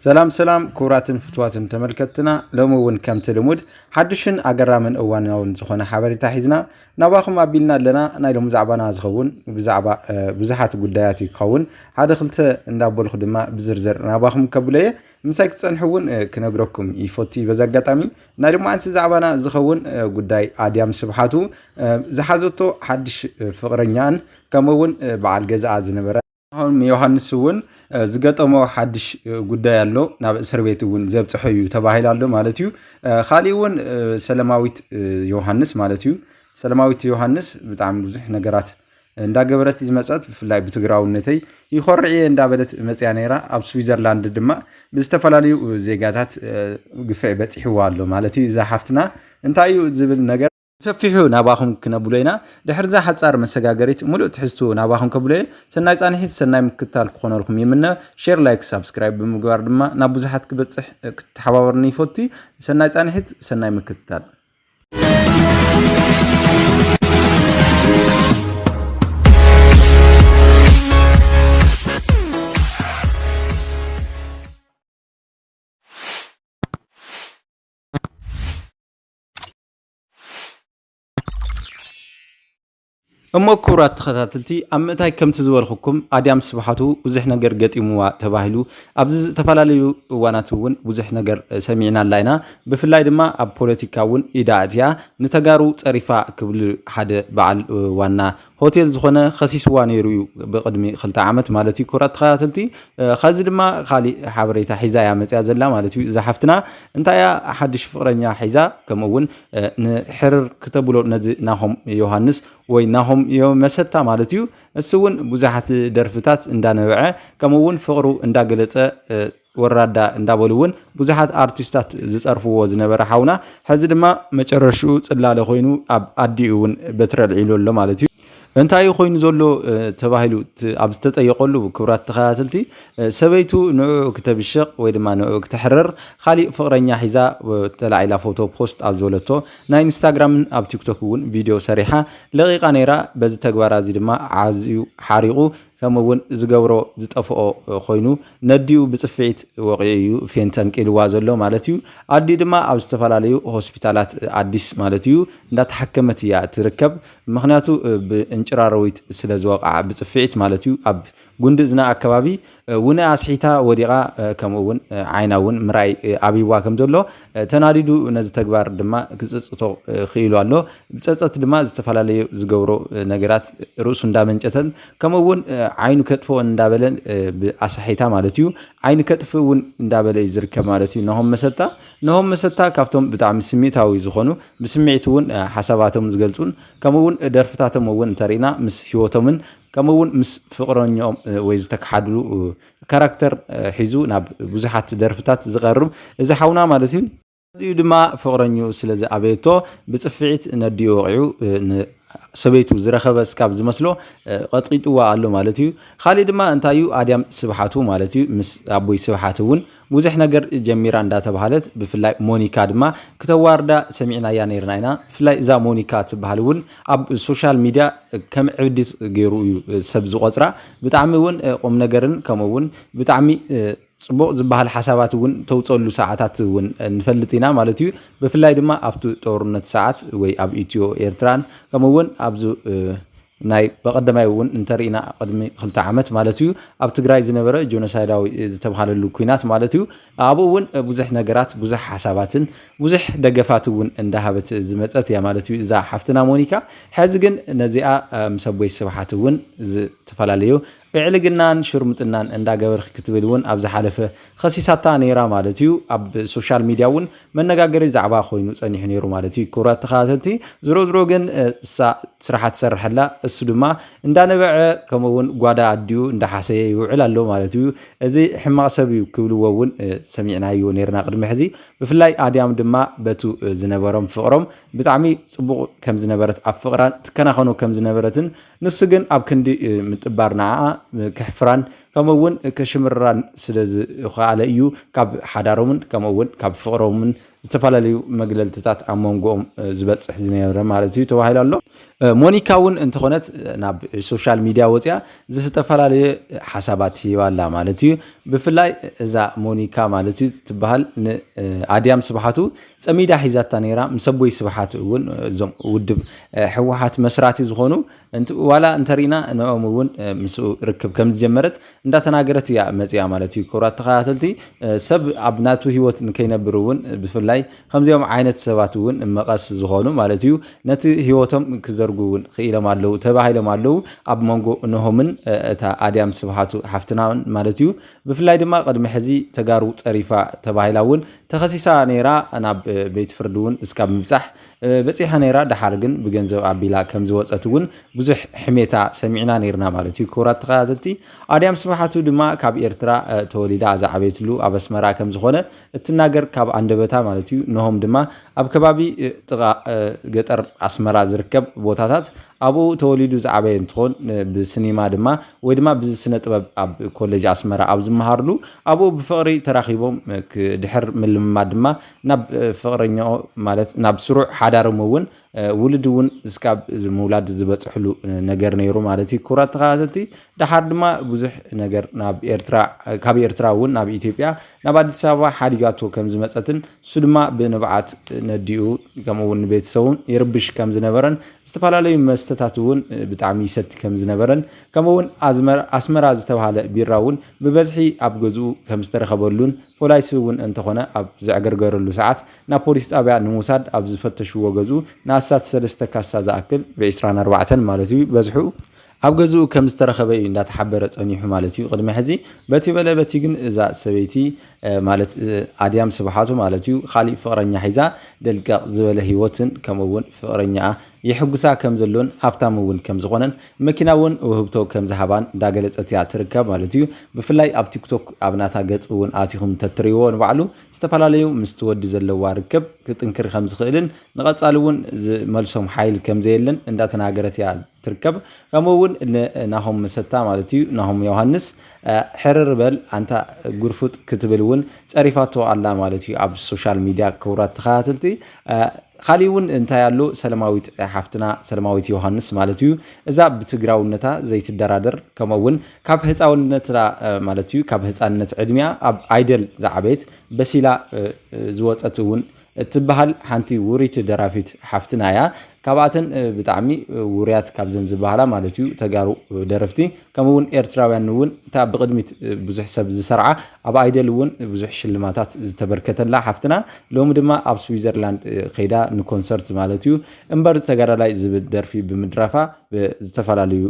ሰላም ሰላም ክቡራትን ፍትዋትን ተመልከትና ሎሚ እውን ከምቲ ልሙድ ሓድሽን ኣገራምን እዋናውን ዝኾነ ሓበሬታ ሒዝና ናባኹም ኣቢልና ኣለና ናይ ሎሚ ዛዕባና ዝኸውን ብዛዕባ ብዙሓት ጉዳያት እዩ ክኸውን ሓደ ክልተ እንዳበልኩ ድማ ብዝርዝር ናባኹም ከብሎ እየ ምሳይ ክትፀንሑ እውን ክነግረኩም ይፈቱ እዩ በዚ ኣጋጣሚ ናይ ድማ ኣንሲ ዛዕባና ዝኸውን ጉዳይ ኣድያም ስብሓቱ ዝሓዘቶ ሓድሽ ፍቕረኛን ከምኡውን በዓል ገዛኣ ዝነበረ ኣሁን ዮሃንስ እውን ዝገጠሞ ሓድሽ ጉዳይ ኣሎ ናብ እስር ቤት እውን ዘብፅሐ እዩ ተባሂሉ ኣሎ ማለት እዩ ካሊእ እውን ሰለማዊት ዮሃንስ ማለት እዩ ሰለማዊት ዮሃንስ ብጣዕሚ ብዙሕ ነገራት እንዳገበረት ዝመፀት ብፍላይ ብትግራውነተይ ይኮርዕ እየ እንዳበለት መፅያ ነይራ ኣብ ስዊዘርላንድ ድማ ብዝተፈላለዩ ዜጋታት ግፍዒ በፂሕዋ ኣሎ ማለት እዩ እዛ ሓፍትና እንታይ እዩ ዝብል ነገር ብሰፊሑ ናባኹም ክነብሎ ኢና። ድሕሪ'ዛ ሓጻር መሰጋገሪት ምሉእ ትሕዝትኡ ናባኹም ከብሎ'የ። ሰናይ ጻንሒት ሰናይ ምክትታል ክኾነልኩም ይምነ። ሼር ላይክ ሳብስክራይብ ብምግባር ድማ ናብ ብዙሓት ክበጽሕ ክትተሓባበሩኒ ይፈቱ። ሰናይ ጻንሒት ሰናይ ምክትታል። እሞ ክቡራት ተኸታተልቲ ኣብ ምእታይ ከምቲ ዝበልኩኩም ኣድያም ስብሓቱ ብዙሕ ነገር ገጢምዋ ተባሂሉ ኣብዚ ዝተፈላለዩ እዋናት እውን ብዙሕ ነገር ሰሚዕና ኣላ ኢና ብፍላይ ድማ ኣብ ፖለቲካ እውን ኢዳ ኣእትያ ንተጋሩ ፀሪፋ ክብል ሓደ በዓል ዋና ሆቴል ዝኾነ ከሲስዋ ነይሩ እዩ ብቅድሚ ክልተ ዓመት ማለት እዩ ክብራት ተኸታተልቲ ከዚ ድማ ካሊእ ሓበሬታ ሒዛ እያ መፅያ ዘላ ማለት እዩ እዛ ሓፍትና እንታይ እያ ሓድሽ ፍቅረኛ ሒዛ ከምኡ እውን ንሕርር ክተብሎ ነዚ ናሆም ዮሃንስ ወይ ናሆም መሰታ ማለት እዩ እሱ እውን ብዙሓት ደርፍታት እንዳነበዐ ከምኡ እውን ፍቅሩ እንዳገለፀ ወራዳ እንዳበሉ እውን ብዙሓት ኣርቲስታት ዝፀርፍዎ ዝነበረ ሓውና ሕዚ ድማ መጨረሽኡ ፅላለ ኮይኑ ኣብ ኣዲኡ እውን በትሪ ኣልዒሉ ኣሎ ማለት እዩ። እንታይ ኮይኑ ዘሎ ተባሂሉ ኣብ ዝተጠየቀሉ ክብራት ተኸታተልቲ ሰበይቱ ንዕኡ ክተብሽቕ ወይ ድማ ንዕኡ ክተሕርር ካሊእ ፍቕረኛ ሒዛ ተላዒላ ፎቶ ፖስት ኣብ ዝበለቶ ናይ ኢንስታግራምን ኣብ ቲክቶክ እውን ቪድዮ ሰሪሓ ለቂቃ ነይራ። በዚ ተግባራ እዚ ድማ ዓዝዩ ሓሪቑ ከምኡ እውን ዝገብሮ ዝጠፍኦ ኮይኑ ነዲኡ ብፅፍዒት ወቂዑ እዩ ፌን ተንቂልዋ ዘሎ ማለት እዩ። ኣዲኡ ድማ ኣብ ዝተፈላለዩ ሆስፒታላት ኣዲስ ማለት እዩ እንዳተሓከመት እያ እትርከብ። ምክንያቱ ብእንጭራሮዊት ስለዝወቅዓ ብፅፍዒት ማለት እዩ ኣብ ጉንዲ እዝና ኣከባቢ ውነ ኣስሒታ ወዲቃ ከምኡ እውን ዓይና እውን ምርኣይ ኣብይዋ ከምዘሎ ተናዲዱ ነዚ ተግባር ድማ ክጽጽቶ ክኢሉ ኣሎ። ብጸጸት ድማ ዝተፈላለዩ ዝገብሮ ነገራት ርእሱ እንዳመንጨተን ከምኡ እውን ዓይኑ ከጥፍኦን እንዳበለን ብኣሳሒታ ማለት እዩ ዓይኒ ከጥፍእ እውን እንዳበለ እዩ ዝርከብ ማለት እዩ ነሆም መሰታ ነሆም መሰታ ካብቶም ብጣዕሚ ስሜታዊ ዝኾኑ ብስምዒት እውን ሓሳባቶም ዝገልጹን ከምኡ እውን ደርፍታቶም እውን እንተሪእና ምስ ህይወቶምን ከምኡ እውን ምስ ፍቕረኛኦም ወይ ዝተከሓድሉ ካራክተር ሒዙ ናብ ብዙሓት ደርፍታት ዝቐርብ እዚ ሓውና ማለት እዩ። ኣዚዩ ድማ ፍቕረኝኡ ስለ ዝኣበየቶ ብጽፍዒት ነዲኡ ወቒዑ ንሰበይቱ ዝረኸበ ስካብ ዝመስሎ ቐጥቒጥዋ ኣሎ ማለት እዩ። ኻሊእ ድማ እንታይ እዩ ኣድያም ስብሓቱ ማለት እዩ ምስ ኣቦይ ስብሓት እውን ብዙሕ ነገር ጀሚራ እንዳተባህለት ብፍላይ ሞኒካ ድማ ክተዋርዳ ሰሚዕናያ ነይርና ኢና። ብፍላይ እዛ ሞኒካ ትበሃል እውን ኣብ ሶሻል ሚድያ ከም ዕብዲት ገይሩ እዩ ሰብ ዝቖጽራ። ብጣዕሚ እውን ቁምነገርን ከምኡ እውን ብጣዕሚ ፅቡቕ ዝበሃል ሓሳባት እውን ተውፀሉ ሰዓታት እውን ንፈልጥ ኢና ማለት እዩ ብፍላይ ድማ ኣብቲ ጦርነት ሰዓት ወይ ኣብ ኢትዮ ኤርትራን ከምኡ እውን ኣብዚ ናይ በቐደማይ እውን እንተርኢና ቅድሚ ክልተ ዓመት ማለት እዩ ኣብ ትግራይ ዝነበረ ጆኖሳይዳዊ ዝተብሃለሉ ኩናት ማለት እዩ ኣብኡ እውን ብዙሕ ነገራት ብዙሕ ሓሳባትን ብዙሕ ደገፋት እውን እንዳሃበት ዝመፀት እያ ማለት እዩ እዛ ሓፍትና ሞኒካ ሕዚ ግን ነዚኣ ምስ ኣቦይ ስብሓት እውን ዝተፈላለዩ ብዕልግናን ሽርሙጥናን እንዳገበርክ ክትብል እውን ኣብ ዝሓለፈ ኸሲሳታ ነይራ ማለት እዩ ኣብ ሶሻል ሚድያ እውን መነጋገሪ ዛዕባ ኮይኑ ጸኒሑ ነይሩ ማለት እዩ። ክቡራት ተኸታተልቲ ዝሮ ዝሮ ግን እሳ ስራሓ ትሰርሕ ኣላ፣ እሱ ድማ እንዳነበዐ ከምኡ እውን ጓዳ ኣዲኡ እንዳሓሰየ ይውዕል ኣሎ ማለት እዩ። እዚ ሕማቕ ሰብ እዩ ክብልዎ እውን ሰሚዕናዮ ነርና ቅድሚ ሕዚ። ብፍላይ ኣድያም ድማ በቱ ዝነበሮም ፍቕሮም ብጣዕሚ ጽቡቕ ከም ዝነበረት ኣብ ፍቕራን ትከናኸኖ ከም ዝነበረትን ንሱ ግን ኣብ ክንዲ ምጥባር ንዓኣ ከሕፍራን ከምኡ እውን ከሽምርራን ስለ ዝኸኣለ እዩ ካብ ሓዳሮምን ከምኡ እውን ካብ ፍቕሮምን ዝተፈላለዩ መግለልትታት ኣብ መንጎኦም ዝበፅሕ ዝነበረ ማለት እዩ ተባሂሉ ኣሎ ሞኒካ እውን እንተኾነት ናብ ሶሻል ሚድያ ወፅያ ዝተፈላለየ ሓሳባት ሂባ ኣላ ማለት እዩ ብፍላይ እዛ ሞኒካ ማለት እዩ ትበሃል ንኣድያም ስብሓቱ ፀሚዳ ሒዛታ ነይራ ምስ ኣቦይ ስብሓት እውን እዞም ውድብ ሕወሓት መስራቲ ዝኾኑ ዋላ እንተሪና ንኦም እውን ምስኡ ርክብ ከም ዝጀመረት እንዳተናገረት እያ መፅያ ማለት እዩ። ክቡራት ተኸታተልቲ ሰብ ኣብ ናቱ ሂወት ንከይነብር እውን ብፍላይ ከምዚኦም ዓይነት ሰባት እውን መቐስ ዝኾኑ ማለት እዩ ነቲ ሂወቶም ክዘርጉ እውን ክኢሎም ኣለዉ ተባሂሎም ኣለዉ ኣብ መንጎ እነሆምን እታ ኣድያም ስብሃቱ ሓፍትና ማለት እዩ። ብፍላይ ድማ ቅድሚ ሕዚ ተጋሩ ፀሪፋ ተባሂላ እውን ተኸሲሳ ነይራ ናብ ቤት ፍርዲ እውን እስካብ ምብፃሕ በጺሓ ነይራ ደሓር ግን ብገንዘብ ኣቢላ ከም ዝወጸት እውን ብዙሕ ሕሜታ ሰሚዕና ነይርና ማለት እዩ ክቡራት ተኸታተልቲ ኣድያም ስብሓቱ ድማ ካብ ኤርትራ ተወሊዳ ዝዓበየትሉ ኣብ ኣስመራ ከም ዝኾነ እትናገር ካብ ኣንደበታ ማለት እዩ ንሆም ድማ ኣብ ከባቢ ጥቓ ገጠር ኣስመራ ዝርከብ ቦታታት ኣብኡ ተወሊዱ ዝዓበየ እንትኾን ብስኒማ ድማ ወይ ድማ ብዚ ስነ ጥበብ ኣብ ኮሌጅ ኣስመራ ኣብ ዝመሃርሉ ኣብኡ ብፍቕሪ ተራኺቦም ድሕር ምልምማ ድማ ናብ ፍቕረኛኦ ማለት ናብ ስሩዕ ሓዳሮም እውን ውልድ እውን እስካብ ምውላድ ዝበፅሕሉ ነገር ነይሩ ማለት እዩ። ክቡራት ተኸታተልቲ ደሓር ድማ ብዙሕ ነገር ናብ ኤርትራ ካብ ኤርትራ እውን ናብ ኢትዮጵያ ናብ ኣዲስ ኣበባ ሓዲጋቶ ከም ዝመፀትን እሱ ድማ ብንብዓት ነዲኡ ከምኡ እውን ንቤተሰቡን ይርብሽ ከም ዝነበረን ዝተፈላለዩ መስተታት እውን ብጣዕሚ ይሰቲ ከም ዝነበረን ከምኡ እውን ኣስመራ ዝተባሃለ ቢራ እውን ብበዝሒ ኣብ ገዝኡ ከም ዝተረኸበሉን ፖላይስ እውን እንተኾነ ኣብ ዘዕገርገረሉ ሰዓት ናብ ፖሊስ ጣብያ ንምውሳድ ኣብ ዝፈተሽዎ ገዝኡ ንኣስታት ሰለስተ ካሳ ዝኣክል፣ ብ ዕስራን ኣርባዕተን ማለት እዩ በዝሑ፣ ኣብ ገዝኡ ከም ዝተረኸበ እዩ እንዳተሓበረ ፀኒሑ ማለት እዩ ቅድሚ ሕዚ። በቲ በለ በቲ ግን እዛ ሰበይቲ ማለት ኣድያም ስብሓቱ ማለት እዩ ካሊእ ፍቕረኛ ሒዛ ደልቀቕ ዝበለ ህይወትን ከምኡ እውን ፍቕረኛኣ የሕጉሳ ከም ዘሎን ሃፍታም እውን ከም ዝኾነን መኪና እውን ውህብቶ ከም ዝሃባን እንዳገለፀት እያ ትርከብ ማለት እዩ። ብፍላይ ኣብ ቲክቶክ ኣብ ናታ ገፅ እውን ኣቲኹም እንተትሪእዎ ንባዕሉ ዝተፈላለዩ ምስቲ ወዲ ዘለዋ ርክብ ክጥንክር ከም ዝኽእልን ንቐፃሊ እውን ዝመልሶም ሓይል ከም ዘየለን እንዳተናገረት እያ ትርከብ። ከምኡ እውን ናሆም መሰታ ማለት እዩ ናሆም ዮሃንስ ሕርር በል ኣንታ ጉርፉጥ ክትብል እውን ፀሪፋቶ ኣላ ማለት እዩ ኣብ ሶሻል ሚዲያ ክቡራት ተኸታተልቲ ካሊእውን እንታይ ኣሎ ሰለማዊት ሓፍትና ሰለማዊት ዮሃንስ ማለት እዩ እዛ ብትግራውነታ ዘይትደራደር ከምኡውን ካብ ህፃውነታ ማለት እዩ ካብ ህፃንነት ዕድሚያ ኣብ ኣይደል ዝዓበየት በሲላ ዝወፀት እውን እትበሃል ሓንቲ ውሪት ደራፊት ሓፍትና እያ ካብኣተን ብጣዕሚ ውርያት ካብዘን ዝበሃላ ማለት እዩ ተጋሩ ደረፍቲ ከምኡ እውን ኤርትራውያን እውን እታ ብቕድሚት ብዙሕ ሰብ ዝሰርዓ ኣብ ኣይደል እውን ብዙሕ ሽልማታት ዝተበርከተላ ሓፍትና ሎሚ ድማ ኣብ ስዊዘርላንድ ከይዳ ንኮንሰርት ማለት እዩ እምበር ተጋዳላይ ዝብል ደርፊ ብምድራፋ ዝተፈላለዩ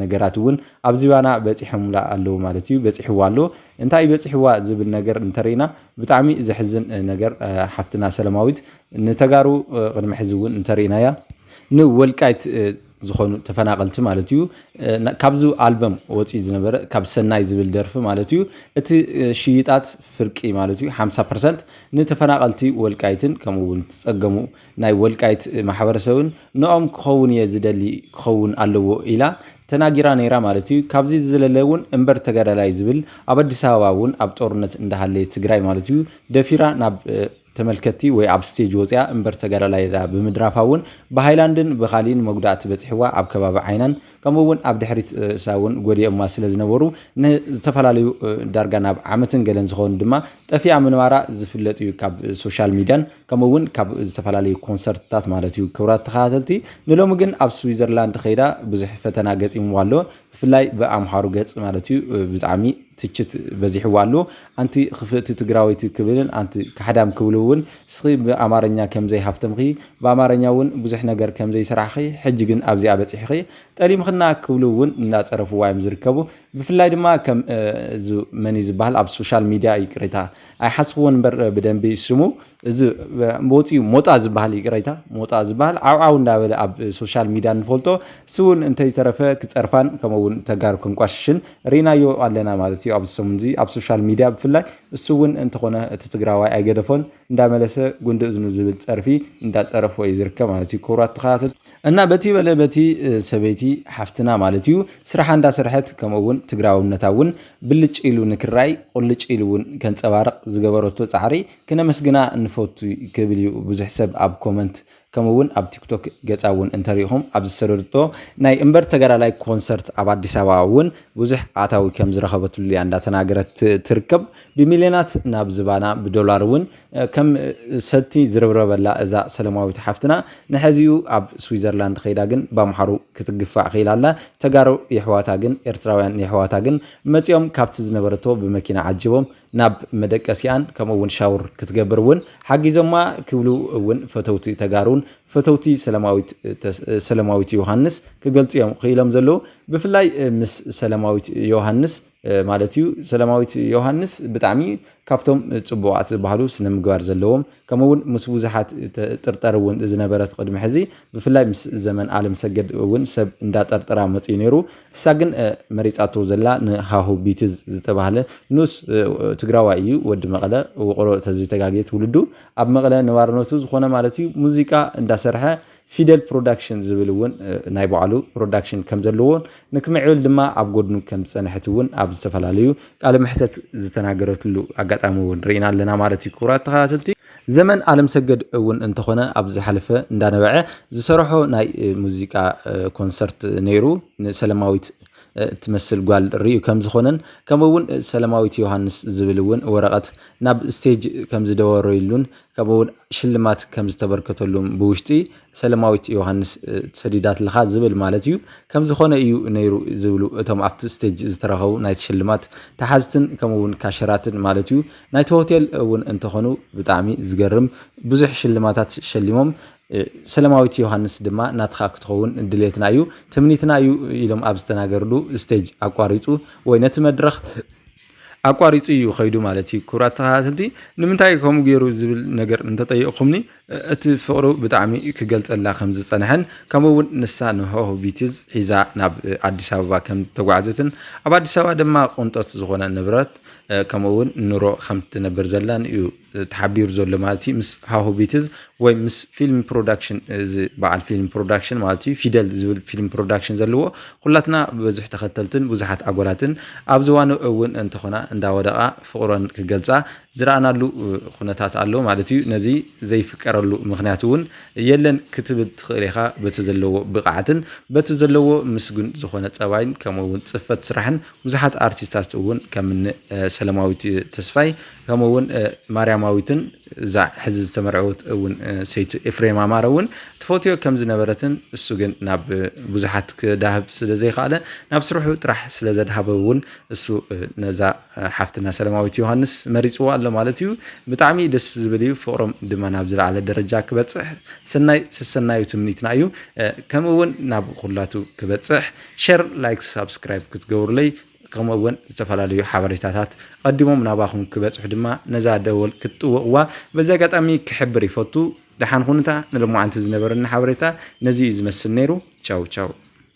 ነገራት እውን ኣብ ዚባና በፂሖምላ ኣለዉ ማለት እዩ በፂሕዋ ኣሎ እንታይ በፂሕዋ ዝብል ነገር እንተርኢና ብጣዕሚ ዘሕዝን ነገር ሓፍትና ሰለማዊት ንተጋሩ ቅድሚ ሕዚ እውን እንተርኢናያ ንወልቃይት ዝኾኑ ተፈናቐልቲ ማለት እዩ ካብዚ ኣልበም ወፂኡ ዝነበረ ካብ ሰናይ ዝብል ደርፊ ማለት እዩ እቲ ሽይጣት ፍርቂ ማለት እዩ 50 ፐርሰንት ንተፈናቐልቲ ወልቃይትን ከምኡ እውን ዝፀገሙ ናይ ወልቃይት ማሕበረሰብን ንኦም ክኸውን እየ ዝደሊ ክኸውን ኣለዎ ኢላ ተናጊራ ነይራ ማለት እዩ ካብዚ ዝዘለለ እውን እምበር ተጋዳላይ ዝብል ኣብ ኣዲስ ኣበባ እውን ኣብ ጦርነት እንዳሃለየ ትግራይ ማለት እዩ ደፊራ ናብ ተመልከትቲ ወይ ኣብ ስቴጅ ወፂኣ እምበር ተጋዳላይ ኢላ ብምድራፋ እውን ብሃይላንድን ብኻሊእን መጉዳእቲ በፂሕዋ ኣብ ከባቢ ዓይናን ከምኡ እውን ኣብ ድሕሪት ርእሳ እውን ጎዲኦማ ስለ ዝነበሩ ንዝተፈላለዩ ዳርጋ ናብ ዓመትን ገለን ዝኸውን ድማ ጠፊኣ ምንባራ ዝፍለጥ እዩ ካብ ሶሻል ሚድያን ከምኡ እውን ካብ ዝተፈላለዩ ኮንሰርትታት ማለት እዩ ክብራት ተኸታተልቲ ንሎሚ ግን ኣብ ስዊዘርላንድ ከይዳ ብዙሕ ፈተና ገጢምዋ ኣሎ ብፍላይ ብ ኣምሓሩ ገጽ ማለት እዩ ብጣዕሚ ትችት በዚሕዎ ኣሎ ኣንቲ ክፍእቲ ትግራወይቲ ክብልን ኣንቲ ካሕዳም ክብሉ እውን እስኺ ብ ኣማርኛ ከምዘይ ሃፍተምኺ ብ ኣማርኛ እውን ብዙሕ ነገር ከምዘይ ሰራሕኺ ሕጂ ግን ኣብዚኣ በጺሕኺ ጠሊምኽና ክብሉ እውን እንዳጸረፍዋ እዮም ዝርከቡ ብፍላይ ድማ ከም መን እዩ ዝበሃል ኣብ ሶሻል ሚድያ ይቅሬታ ኣይሓስኽዎን እምበር ብደንቢ ስሙ እዚ ወፂኡ ሞጣ ዝበሃል ይቅረይታ ሞጣ ዝበሃል ዓውዓው እንዳበለ ኣብ ሶሻል ሚድያ ንፈልጦ እሱ እውን እንተይተረፈ ክፀርፋን ከምኡ እውን ተጋሩ ከንቋሽሽን ርኢናዮ ኣለና ማለት እዩ ኣብዚ ሰሙን እዚ ኣብ ሶሻል ሚድያ ብፍላይ እሱ እውን እንተኾነ እቲ ትግራዋይ ኣይገደፎን እንዳመለሰ ጉንዲ እዝኑ ዝብል ፀርፊ እንዳፀረፎ እዩ ዝርከብ ማለት እዩ ክቡራት ተኸታተልቲ እና በቲ በለ በቲ ሰበይቲ ሓፍትና ማለት እዩ ስራሓ እንዳሰርሐት ከምኡ እውን ትግራውነታ እውን ብልጭ ኢሉ ንክራይ ቁልጭ ኢሉ እውን ከንፀባርቕ ዝገበረቶ ፃዕሪ ክነመስግና ንፈቱ ክብል እዩ ብዙሕ ሰብ ኣብ ኮመንት ከምኡ እውን ኣብ ቲክቶክ ገፃ እውን እንተሪኢኹም ኣብ ዝሰደድቶ ናይ እምበር ተጋዳላይ ኮንሰርት ኣብ ኣዲስ ኣበባ እውን ብዙሕ ኣታዊ ከም ዝረኸበትሉ እያ እንዳተናገረት ትርከብ ብሚልዮናት ናብ ዝባና ብዶላር እውን ከም ሰቲ ዝርብረበላ እዛ ሰለማዊት ሓፍትና ንሐዚኡ ኣብ ስዊዘርላንድ ከይዳ ግን ብኣምሓሩ ክትግፋዕ ክኢላ ኣላ ተጋሩ የሕዋታ ግን ኤርትራውያን የሕዋታ ግን መፂኦም ካብቲ ዝነበረቶ ብመኪና ዓጅቦም ናብ መደቀሲኣን ከምኡ እውን ሻውር ክትገብር እውን ሓጊዞማ ክብሉ እውን ፈተውቲ ተጋሩን ፈተውቲ ሰለማዊት ዮሃንስ ክገልፁ እዮም ክኢሎም ዘለዉ። ብፍላይ ምስ ሰለማዊት ዮሃንስ ማለት እዩ ሰለማዊት ዮሃንስ ብጣዕሚ ካብቶም ፅቡቓት ዝበሃሉ ስነ ምግባር ዘለዎም ከምኡ እውን ምስ ብዙሓት ጥርጠር እውን ዝነበረት ቅድሚ ሕዚ ብፍላይ ምስ ዘመን ኣለም ሰገድ እውን ሰብ እንዳጠርጠራ መፅዩ ነይሩ እሳ ግን መሪፃቶ ዘላ ንሃሁ ቢትዝ ዝተባህለ ንኡስ ትግራዋይ እዩ ወዲ መቐለ ውቕሮ ተዘይተጋግየ ትውልዱ ኣብ መቐለ ነባርነቱ ዝኾነ ማለት እዩ ሙዚቃ እንዳሰርሐ ፊደል ፕሮዳክሽን ዝብል እውን ናይ ባዕሉ ፕሮዳክሽን ከም ዘለዎን ንክምዕብል ድማ ኣብ ጎድኑ ከም ዝፀንሐት እውን ኣብ ዝተፈላለዩ ቃለ መሕተት ዝተናገረትሉ ኣጋጣሚ እውን ርኢና ኣለና ማለት እዩ ክቡራት ተኸታተልቲ ዘመን ኣለምሰገድ እውን እንተኾነ ኣብ ዝሓለፈ እንዳነበዐ ዝሰረሖ ናይ ሙዚቃ ኮንሰርት ነይሩ ንሰለማዊት እትመስል ጓል ርእዩ ከም ዝኾነን ከምኡውን ሰለማዊት ዮሃንስ ዝብል እውን ወረቐት ናብ ስቴጅ ከም ዝደወረሉን ከምኡውን ሽልማት ከም ዝተበርከተሉም ብውሽጢ ሰለማዊት ዮሃንስ ሰዲዳትልኻ ዝብል ማለት እዩ ከም ዝኾነ እዩ ነይሩ ዝብሉ እቶም ኣብቲ ስቴጅ ዝተረኸቡ ናይቲ ሽልማት ተሓዝትን ከምኡውን ካሸራትን ማለት እዩ ናይቲ ሆቴል እውን እንተኾኑ ብጣዕሚ ዝገርም ብዙሕ ሽልማታት ሸሊሞም ሰለማዊት ዮሃንስ ድማ ናትኻ ክትኸውን ድሌትና እዩ ትምኒትና እዩ ኢሎም ኣብ ዝተናገርሉ ስቴጅ ኣቋሪፁ ወይ ነቲ መድረኽ ኣቋሪጹ እዩ ከይዱ ማለት እዩ። ክቡራት ተኸታተልቲ ንምንታይ እዩ ከምኡ ገይሩ ዝብል ነገር እንተጠይቕኩምኒ እቲ ፍቕሩ ብጣዕሚ ክገልጸላ ከም ዝጸንሐን ከምኡ እውን ንሳ ንሆህ ቢትዝ ሒዛ ናብ ኣዲስ ኣበባ ከም ዝተጓዕዘትን ኣብ ኣዲስ ኣበባ ድማ ቁንጠት ዝኾነ ንብረት ከምኡ እውን ኑሮ ከም ትነብር ዘላን እዩ ተሓቢሩ ዘሎ ማለት እዩ ምስ ሃሁ ቢትዝ ወይ ምስ ፊልም ፕሮዳክሽን እዚ በዓል ፊልም ፕሮዳክሽን ማለት እዩ ፊደል ዝብል ፊልም ፕሮዳክሽን ዘለዎ ኩላትና ብብዙሕ ተኸተልትን ብዙሓት ኣጎላትን ኣብ ዝዋኑ እውን እንተኾና እንዳወደቓ ፍቕሮን ክገልፃ ዝረኣናሉ ኩነታት ኣሎ ማለት እዩ ነዚ ዘይፍቀረሉ ምክንያት እውን የለን ክትብል ትኽእል ኢኻ በቲ ዘለዎ ብቕዓትን በቲ ዘለዎ ምስጉን ዝኾነ ፀባይን ከምኡ እውን ፅፈት ስራሕን ብዙሓት ኣርቲስታት እውን ከምኒ ሰለማዊት ተስፋይ ከምኡ እውን ማርያማዊትን እዛ ሕዚ ዝተመርዐወት እውን ሰይቲ ኤፍሬም ኣማረ እውን ትፈትዮ ከም ዝነበረትን እሱ ግን ናብ ብዙሓት ክዳህብ ስለ ዘይከኣለ ናብ ስርሑ ጥራሕ ስለ ዘድሃበ እውን እሱ ነዛ ሓፍትና ሰላማዊት ዮሃንስ መሪፅዎ ኣሎ ማለት እዩ። ብጣዕሚ ደስ ዝብል እዩ። ፍቕሮም ድማ ናብ ዝለዓለ ደረጃ ክበፅሕ ሰናይ ሰሰናዩ ትምኒትና እዩ። ከምኡ እውን ናብ ኩላቱ ክበፅሕ ሸር፣ ላይክ፣ ሳብስክራይብ ክትገብሩለይ ከምኡ እውን ዝተፈላለዩ ሓበሬታታት ቀዲሞም ናባኹም ክበፅሑ ድማ ነዛ ደወል ክትጥውቕዋ በዚ ኣጋጣሚ ክሕብር ይፈቱ። ደሓን ኩኑታ ንሎማዓንቲ ዝነበረኒ ሓበሬታ ነዚ እዩ ዝመስል ነይሩ ቻው ቻው።